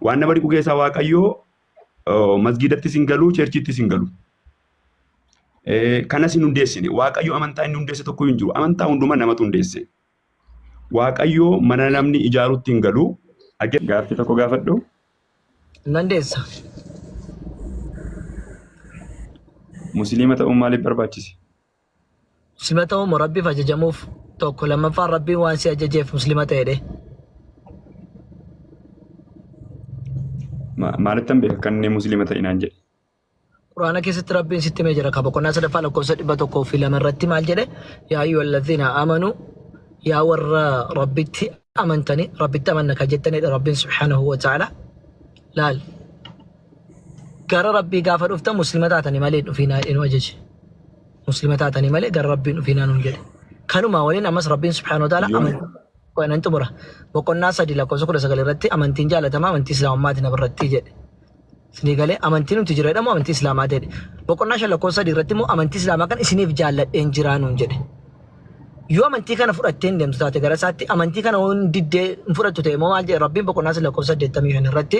Waan nama dhiqu keessaa Waaqayyoo oh, masgiidattis hin galu, cheerchiittis hin galu. Eh, Kanas hin hundeessine. Waaqayyo amantaa inni hundeesse tokko hin jiru. Amantaa hundumaa namatu hundeesse. Waaqayyo mana namni ijaarutti hin galu. Age- Gaaffii tokko gaafadhu. Hin dandeessa. Musliima ta'uun maaliif barbaachise? Muslima ta'uu moo Rabbiif ajajamuuf? Tokko lammaffaan Rabbiin waan si ajajeef muslima ta'edhe. Ma- Maalittan beeka kan inni musliima ta'e naan jedhe. Quraana keessatti Rabbiin sitti himee jira. Kan boqonnaa sadaffaa lakkoofsa dhibba tokkoo fi lama irratti maal jedhe? Yaa ayyuhal ladhiina amanu yaa warra Rabbitti amantanii Rabbitti amanna kan jettanidha Rabbiin subhaanahu wa ta'ala. Laal. gara rabbii gaafa dhuftan muslima taatanii malee hin dhufiinaa jedhee nu ajaje muslima taatanii malee gara rabbiin dhufiinaa nuun jedhe kanumaa waliin ammas rabbiin subhaanahu wa ta'ala Yoom? amantii qo'anan xumura boqonnaa sadii lakkoofsa kudha sagal irratti amantiin jaalatamaa amantii islaamummaati na birratti jedhe isinii galee amantii nuti jira jedhamu amantii islaamaa jedhe boqonnaa shan lakkoofsa sadii irratti immoo amantii islaamaa kan isiniif jaalladheen jiraa nuun jedhe yoo amantii kana fudhattee hin deemtu taate gara isaatti amantii kana yoo hin diddee hin fudhattu ta'e immoo maal jedhe rabbiin boqonnaa sadii lakkoofsa saddeettamii shan irratti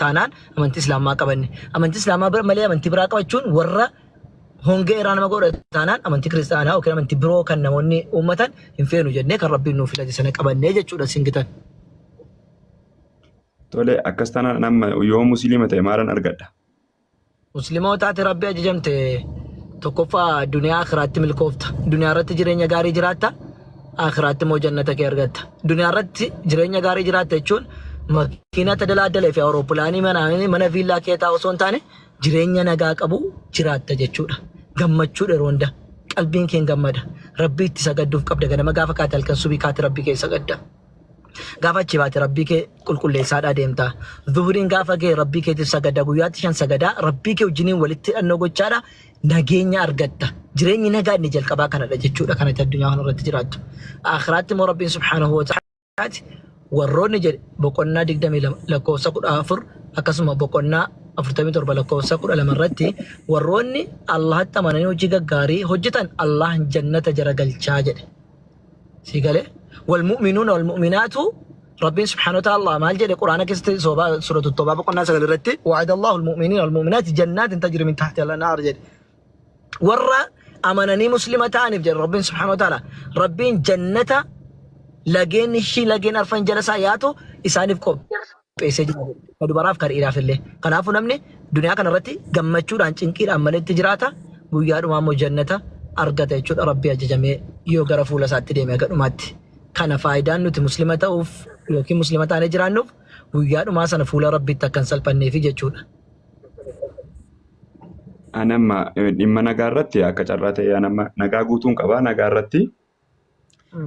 taanaan amantii islaamaa qabanne amantii islaamaa bira malee amantii biraa qabachuun warra hongee irraa nama godha taanaan amantii kiristaanaa yookiin amantii biroo kan namoonni uummatan hin feenu jennee kan rabbiin nuuf filate sana qabannee jechuudha singitan. Tole akkas taanaan amma yoo musliima ta'e maalan argadha? Muslimootaati Rabbi ajajamte tokkoffaa duniyaa akhiraatti milkoofta. Duniyaa irratti jireenya gaarii jiraatta. Akhiraatti immoo jannata kee argatta. Duniyaa irratti jireenya gaarii jiraatta jechuun makiina tadalaaddalee fi awuroopilaanii manaa mana viillaa keetaa osoo hin taane jireenya nagaa qabu jiraatta jechuudha. Gammachuu yeroo hunda qalbiin keen gammada. Rabbii itti sagadduuf qabda ganama gaafa kaate halkan subii kaate rabbii kee sagadda. gaafa achi baate rabbii kee qulqulleessaadhaa deemta. Zuhuriin gaafa ga'e rabbii keetiif sagada guyyaatti shan sagadaa rabbii kee wajjiniin walitti hidhannoo gochaadha nageenya argatta. Jireenyi nagaa inni jalqabaa kanadha jechuudha kanatti addunyaa kanarratti jiraattu. Akhiraatti immoo rabbiin subhaanahu wa ta'aalaati warroonni jedhe boqonnaa 22 lakkoofsa 14 akkasuma boqonnaa 47 lakkoofsa 12 irratti warroonni Allahatti amananii hojii gaggaarii hojjetan Allahan jannata jara galchaa jedhe. sii galee wal mu'minuuna wal mu'minaatu rabbiin subhaanahu wa ta'ala maal jedhe quraana keessatti soobaa suuratu toobaa boqonnaa sagal irratti wa'ada allahu almu'miniina wal mu'minaati jannaatin tajri min tahti al-anhaar jedhe warra amananii muslima ta'aniif jedhe rabbiin subhaanahu wa ta'ala rabbiin jannata lageen ishii lageen arfan jala isaa yaatu isaaniif qophee qopheessee jira jedhe. Ka dubaraaf ka dhiiraaf illee. Kanaafuu namni duniyaa kana irratti gammachuudhaan cinqiidhaan maletti jiraata guyyaa dhumaa immoo jannata argata jechuudha rabbii ajajamee yoo gara fuula isaatti deeme aga dhumaatti. Kana faayidaan nuti muslima ta'uuf yookiin muslima taanee jiraannuuf guyyaa dhumaa sana fuula rabbiitti akka hin salphanneefi jechuudha. Ani amma eh, dhimma nagaa irratti akka carraa ta'e ani amma nagaa guutuun qaba. Nagaa irratti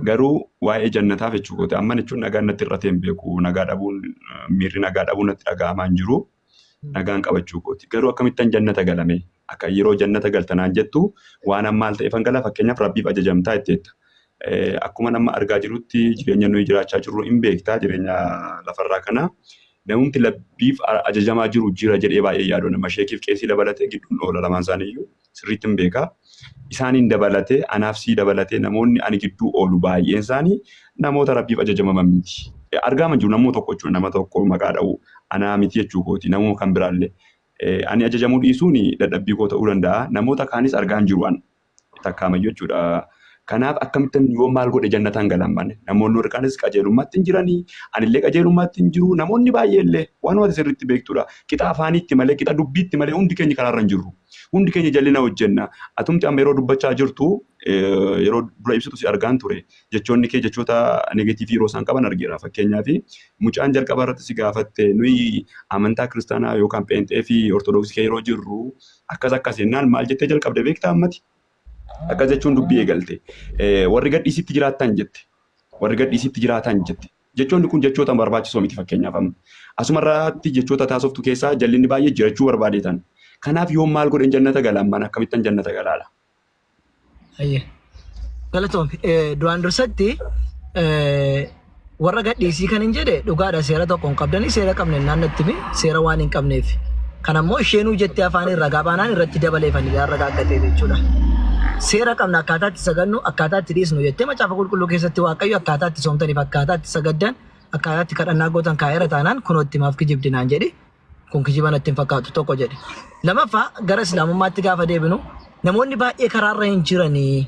Garuu waa'ee jannataaf jechuu kooti. Amma jechuun nagaan natti hir'atee hin beeku. Nagaa dhabuun miirri nagaa dhabuun natti dhaga'amaa hin jiru. Nagaan qabachuu kooti. Garuu akkamittan jannata galame? Akka yeroo jannata galtanaan jettu waan ammaal ta'eefan gala fakkeenyaaf rabbiif ajajamtaa itti jetta. Akkuma nama argaa jirutti jireenya nuyi jiraachaa jirru hin beektaa jireenya lafarraa kana. Namumti labbiif ajajamaa jiru jira jedhee baay'ee yaadoo nama sheekiif qeesii dabalatee gidduun oola lamaan isaaniiyyuu. sirriittin beeka. Isaaniin dabalatee anaaf sii dabalatee namoonni ani gidduu oolu baay'een isaanii namoota rabbiif ajajamaman miti. Argaaman jiru namuu tokko jechuudha nama tokko maqaa dha'u anaa miti jechuu kooti namuu kan biraallee. Ani ajajamuu dhiisuun dadhabbii koo ta'uu danda'a namoota kaanis argaan jiru an takkaamayyuu jechuudha. Kanaaf akkamittan yoo maal godhe jannataan galan bane namoonni warri kaanis qajeelummaatti hin jiranii anillee qajeelummaatti hin jiru namoonni baay'eellee waanuma sirriitti beektudha. Qixa afaaniitti malee qixa dubbiitti malee hundi keenya karaarra hin jirru. Hundi keenya jallina hojjenna. Atumti amma yeroo dubbachaa jirtu yeroo dura ibsitu si argaan ture. Jechoonni kee jechoota negatiivii yeroo isaan qaban argeera. Fakkeenyaaf mucaan jalqaba irratti si gaafatte nuyi amantaa kiristaanaa yookaan pheenxee fi ortodoksii kee yeroo jirru akkas akkas jennaan maal jettee jalqabde beektaa ammati? Akkas jechuun dubbii eegalte. Warri gadhiisitti jiraattan jette. Warri gadhiisitti jiraatan jette. Jechoonni kun jechoota barbaachisoo miti fakkeenyaaf amma asuma irraatti jechoota taasoftu keessaa jallinni baay'ee jirachuu barbaadeetan kanaaf yoon maal godhen jannata gala ammaan akkamittan jannata galaala. Hayyee. Galatoomi. Eh, Duraan dursatti eh, warra gadhiisii kan hin jedhe dhugaadha seera tokko hin qabdanii seera qabne naan natti himi seera waan hin qabneef. Kana immoo isheenuu jettee afaaniin ragaa baanaan irratti dabalee fannifnaan ragaa akka ta'e jechuudha. Seera qabna akkaataa itti sagadnu, akkaataa itti dhiisnu jettee macaafa qulqulluu keessatti Waaqayyo akkaataa itti soomtaniif, akkaataa itti sagaddan, akkaataa itti kadhannaa gootan kaa'eera taanaan kunoo itti maaf kijibdi naan jedhi. Kun kijiba natti hin fakkaatu tokko jedhe. Lamaffaa gara islaamummaatti gaafa deebinu namoonni baay'ee karaarra hin jiranii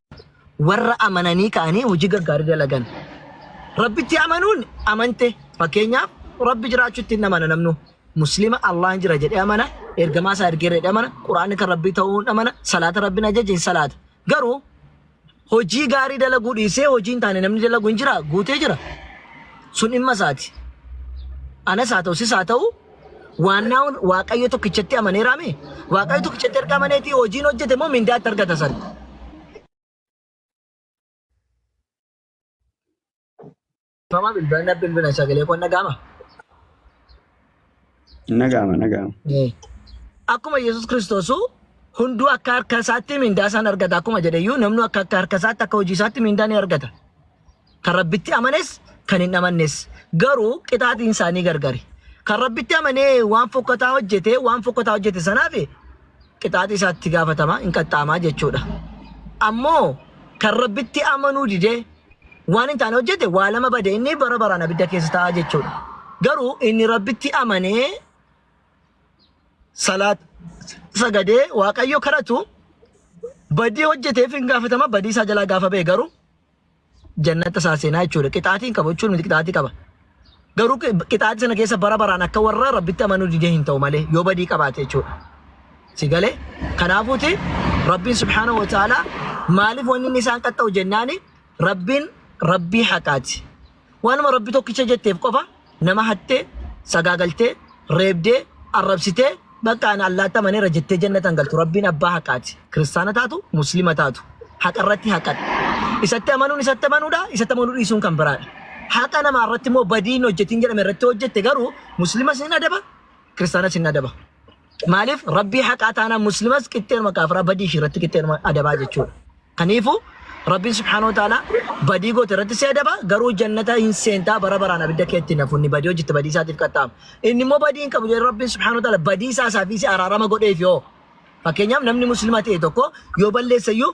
warra amananii ka'anii hojii gaggaarii dalagan. Rabbitti amanuun amante fakkeenyaaf rabbi jiraachuutti hin amana namnu. Muslima Allahin jira jedhee amana, ergamaa isaa ergeera jedhee amana, Quraanni kan rabbii ta'uun amana, salaata rabbiin ajaje hin salaata. Garuu hojii gaarii dalaguu dhiisee hojii hin taane namni dalagu hin jira guutee jira. Sun dhimma isaati. Anas haa ta'u sis haa ta'u Waannaawwan Waaqayyo tokkichatti amaneeraa mee? Waaqayyo tokkichatti erga amaneetii hojiin hojjete moo mindaa itti argata san? Fama bilbilan na bilbilan sagalee koon dhaga'ama. Nagaama nagaama. Akkuma Yesuus Kiristoosuu hunduu akka harka isaatti mindaa isaan argata akkuma jedhe iyyuu namni akka akka harka isaatti akka hojii isaatti mindaa ni argata. Kan Rabbitti amanes, kan hin amannes. Garuu qixaaxiin isaanii gargari. Kan Rabbitti amanee waan fokkataa hojjete, waan fokkataa hojjete sanaaf qixaaxii isaatti gaafatama, hin qaxxaamaa jechuudha. Ammoo kan Rabbitti amanuu dide, waan hin taane hojjete, waa lama bade inni bara baraan abidda keessa ta'a jechuudha. Garuu inni Rabbitti amanee salaat sagadee Waaqayyo kadhatu badii hojjeteef hin gaafatama, badii isaa jalaa gaafa ba'e garuu jannata isaa seenaa jechuudha. Qixaatiin qaba jechuun miti qixaatii qaba. Garuu qixaatii sana keessa bara baraan akka warra rabbitti amanuu didee hin ta'u malee yoo badii qabaate jechuudha. Si galee kanaafuuti rabbiin subhaanahu wa ta'ala maaliif wanni inni isaan qaxxa'u jennaani rabbiin rabbii haqaati. Waanuma rabbi tokkicha jetteef qofa Nama hattee, sagaagaltee, reebdee, arrabsitee bakka ana Allaatti amaneera jettee jannata hin galtu. Rabbiin abbaa haqaati. Kiristaana taatu, Muslima taatu. Haqa irratti haqadha. Isatti amanuun isatti amanuudha, isatti amanuu dhiisuun kan biraadha. Haqa namaa irratti immoo badii hin hojjetin jedhame irratti hojjette garuu Muslimas hin adaba, Kiristaanas hin adaba. Maaliif rabbii haqaa taanaan muslimas qixxeeruma kaafiraa badii ishii irratti qixxeeruma adabaa jechuudha. Kaniifuu rabbiin subhaanahu wa ta'ala badii goote irratti si adaba garuu jannata hin seentaa bara baraan abidda keetti hin hafunni badii hojjette badii isaatiif qaxxaama. Inni immoo badii hin qabu jedhee rabbiin subhaanahu wa ta'ala badii isaa isaa fi si araarama godheef yoo. Fakkeenyaaf namni muslima ta'e tokko yoo balleessa iyyuu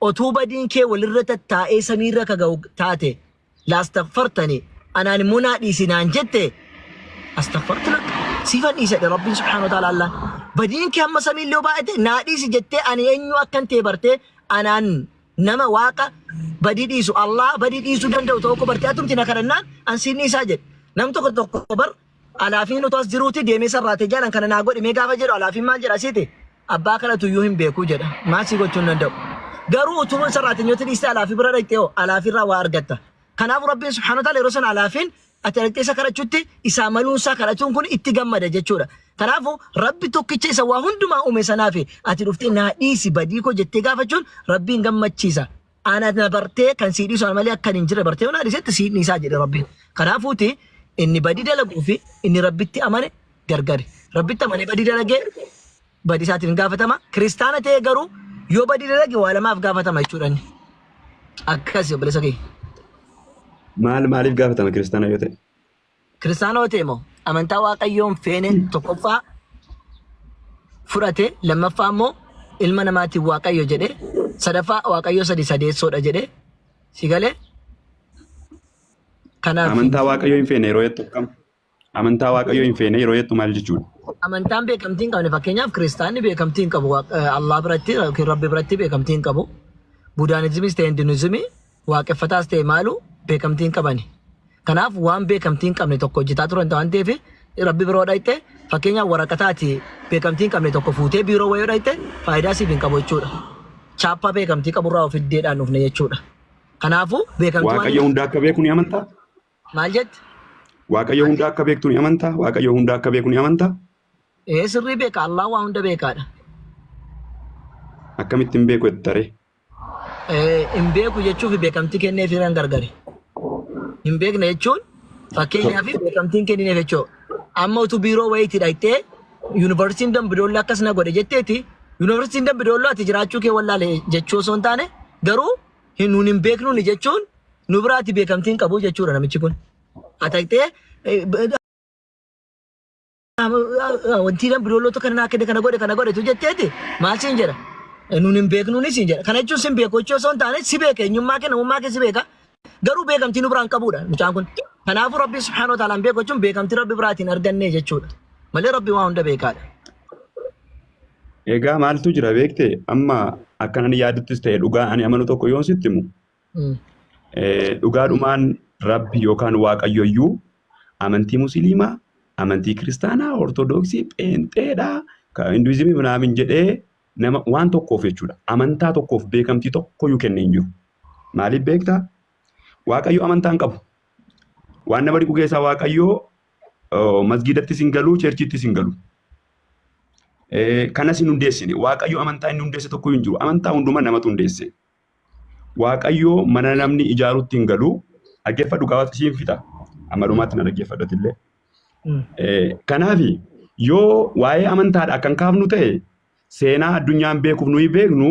Otuu badiin kee walirra tattaa'ee samiirra ka ga'u taate laastaghfartani anaan immoo naa dhiisi naan jette astaghfartu lak siifan dhiisa jedhe rabbiin subhaanahu wa ta'aala allaan badiin kee hamma samiillee yoo baay'ate naa dhiisi jettee ani eenyu akkan ta'e bartee anaan nama waaqa badii dhiisu allah badii dhiisuu danda'u tokko bartee atumti na kadhannaan an siin dhiisaa jedhe nam tokko tokko bar Alaafiin utuu as jiruuti deemee sarraatee jaalan kana naa godhi mee gaafa jedhu alaafiin maal jedha siite abbaa kanatu iyyuu hin beeku jedha maal sii gochuu hin danda'u garuu utuu sarraateenyooti dhiiste alaafii bira dhaqxee hoo alaafiirraa waa argatta kanaafuu rabbiin subhaanahu wa ta'aala yeroo sana alaafiin ati dhaqxee isa kadhachuutti isaa maluun isaa kadhachuun kun itti gammada jechuudha kanaafuu rabbi tokkicha isa waa hundumaa uume sanaafi ati dhuftee naa dhiisi badii koo jettee gaafachuun rabbiin gammachiisa Ana na bartee kan sii dhiisu ana malee akkan hin jirre bartee yoona dhiisetti sii dhiisaa jedhe rabbiin. Kanaafuuti inni badii dalaguu fi inni rabbitti amane gargari. Rabbitti amane badii dalagee badii isaatiin hin gaafatama. Kiristaana ta'ee garuu yoo badii dalage waa lamaaf gaafatama jechuudha inni. Akkasi obboleessa kee. Maal maaliif gaafatama kiristaana yoo ta'e? Kiristaanoo ta'e moo amantaa waaqayyoon feene tokkoffaa fudhate lammaffaa immoo ilma namaatiin waaqayyo jedhe sadaffaa waaqayyo sadi sadeessoodha jedhe si galee kanaaf Amantaa waaqayyoo hin feene yeroo jettu akkam? Amantaa waaqayyoo hin feene yeroo jettu maal jechuudha? amantaan beekamtii hin qabne fakkeenyaaf kiristaanni beekamtii hin qabu Waaq- eh, Allah biratti yookiin Rabbi biratti beekamtii hin qabu budaanizimiis ta'e hinduunizimii waaqeffataas ta'e maaluu beekamtii hin qabani. Kanaaf waan beekamtii hin qabne tokko hojjetaa turan waan ta'eef rabbi biroo dhayxee fakkeenyaaf waraqataati beekamtii hin qabne tokko fuutee biiroo wayoo dhayxee faayidaa siif hin qabu jechuudha. Chaappaa beekamtii qaburraa of iddeedhaan dhufne jechuudha. Kanaafuu beekamtii waan Waaqayyo hundaa akka beeku ni amantaa? maal jette? Waaqayyo hundaa akka beektu ni amantaa? Waaqayyo hundaa akka beeku ni amantaa? Ee sirrii beeka Allah waa hunda beekaadha. Akkamittiin beeku jettaree? hin beeku jechuu fi beekamtii kenneefiiraan gargari. Hin beekne jechuun fakkeenyaaf beekamtiin kennineef jechuu. Amma utuu biiroo wayiitii dhaqxee yuunivarsiitiin Dambidoolloo akkas na godhe jetteeti yuunivarsiitiin Dambidoolloo ati jiraachuu kee wallaale jechuu osoo hin taane garuu hin nuun hin beeknuuni jechuun nu biraati beekamtiin qabu jechuudha namichi kun. Ataqxee Wanti kan biroolota kana naa kenne kana godhe kana godhe tu jetteeti maal siin jedha. Nuun hin beeknuunis siin jedha. Kana jechuun sin beeku jechuu osoo hin taane si beeka eenyummaa kee namummaa kee si beeka. Garuu beekamtii nu biraan qabuudha mucaan kun. Kanaafuu Rabbi subhaanahu wa ta'aalaan beeku jechuun beekamtii Rabbi biraatiin argannee jechuudha. Malee Rabbi waa hunda beekaadha. Egaa maaltu jira beekte amma akkanan yaaduttis ta'e dhugaa ani amanu tokko yoon sitti himu Dhugaadhumaan rabbi yookaan waaqayyoyyuu amantii musiliimaa, amantii kiristaanaa, ortodoksii, pheenxeedhaa, hinduizimii minaamin jedhee nama waan tokkoof jechuudha. Amantaa tokkoof beekamtii tokkoyyuu kennee hin jiru. Maaliif beektaa? Waaqayyo amantaa hin qabu. Waan nama dhiqu keessaa waaqayyo masgiidattis hin galu, cheerchiittis hin galu. Kanas hin hundeessine. Waaqayyo amantaa inni hundeesse tokkoyyuu hin jiru. Amantaa hundumaa namatu hundeesse. Waaqayyoo mana namni ijaarutti hin galu. Dhaggeeffadhu gabaatti siin fixa. Amma dhumaatti na dhaggeeffadhu atillee. Kanaaf yoo waa'ee amantaadhaa kan kaafnu ta'e seenaa addunyaan beekuuf nuyi beeknu